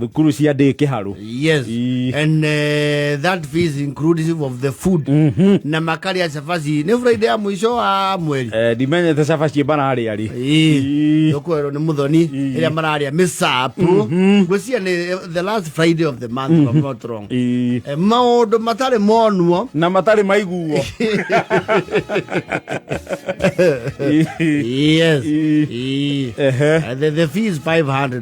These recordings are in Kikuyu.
Thukuru cia ndĩ kĩharũ. Yes. Ii. And uh, that fee is inclusive of the food. Na makari ya cabaci. Ni Friday ya mwisho wa mweri. Eh, ndimenyete cabaci mararĩa rĩ Ii. Tukwero ni muthoni ĩrĩa mararĩa mĩcapu. Ngwĩciria ni eh, the last Friday of the month if I'm not wrong. Ii. Eh, Maũndũ matarĩ monuo. na matarĩ maiguo Ii. Yes. Ii. Ii. Ehe. Uh, the, the fee is 500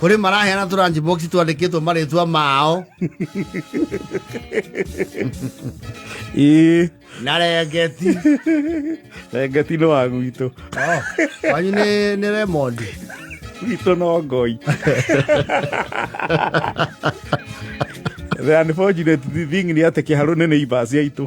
kũrĩ maraheana tũranji box twandĩkĩtwo marĩtwa mao ĩĩ na rengeti rengeti nĩ wa gwitũ Oh, kwanyu nĩ nĩ Raymond gwitũ no ngoi the unfortunate thing nĩ atĩ kĩharũ nĩ neighbors aitũ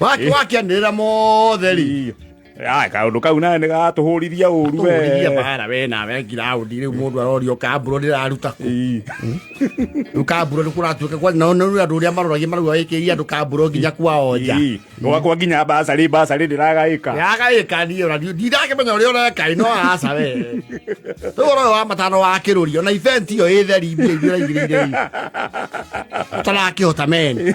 wake wake anira mothe ri Ai, kaundu kau nawe nä gatå hå rithia å ru tũrithia bara we nawe ngiraũndi rĩu mũndũ arorio kambũro ndĩraruta kũ rĩu kambũro nĩ kũratuĩka kwa nao nĩ andũ ũrĩa maroragia marauga wĩkĩria andũ kambũro nginya kwao nja gwakwa nginya mbacarä mbacarä ndä ragaä ka yagaĩka niĩ ona ndiũ- ndindakĩmenya ũrĩa ũreka ĩ no aca we rĩu ũhoro ũyũ wa matano wa kĩrũri ona ibenti ĩyo ĩ theri mbia iria ũraigĩrĩire ĩ. ũtarakĩhota meni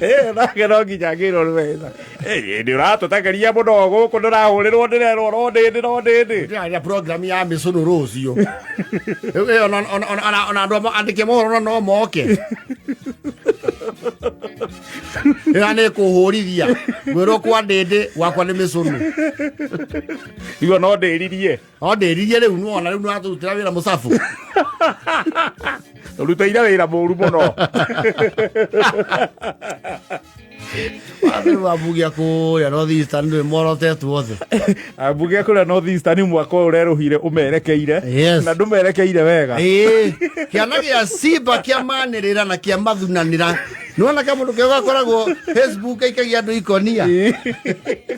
Eh, nake no nginya ngirwo nĩ wetha Eh, nĩ ũratũtakaria mũno gũkũ ndũrahũrĩrwo ndĩrerwo ro ndĩndĩ ro ndĩndĩ ndĩraria program ya mĩcũnũ rũciũ Rĩu, eh, ona- ona- ona- ona- ona andũ andĩke mohoro na no moke ĩra nĩ kũhũrithia gwĩrwo kwa ndĩndĩ gwakwa nĩ mĩcũnũ igua no ndĩririe o ndĩririe rĩu nuona rĩu nĩratũrutĩra wĩra mũcabu tũrutaire wĩra mũru mũno wathe rĩu ambugia kũrĩa northeastern ndũĩ morotetwo othe ambuge kũrĩa northeastern mwaka ũyũ ũrerũhire ũmerekeire Yes. na ndũmerekeire wega Ĩĩ, kĩana gĩa simba kĩamanĩrĩra na kĩamathunanĩra nĩwona ka mũndũ kega gakoragwo facebook aikagia andũ ikonia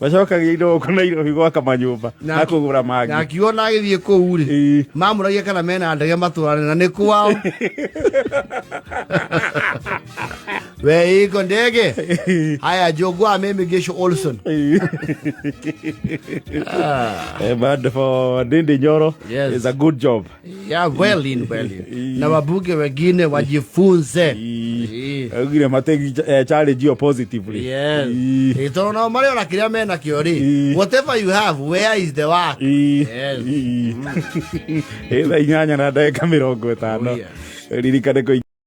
macokagia indo gũkũ nairobi gwaka manyũmba Na- na kũgũra na mangĩ akiuga na agĩthiĩ kũu rĩ Ĩĩ. mamũragia kana mena ndege matũrane na nĩ kwao we iko ndege haya njũngwa mimi gisho olson Eh, but for Dindi Nyoro, Yes. it's a good job. ya well in well in. na wabunge wengine wajifunze Ii. augire mategi eh, challenge yo positively Yes. Ii. Ĩ, tondũ nao marĩ ona kĩrĩa menakĩo rĩ Ii. whatever you have where is the work Ii. Yes. Ii. Ĩ, thaa inyanya na ndagĩka mĩrongo ĩtano Oh, yes. ririkane kũi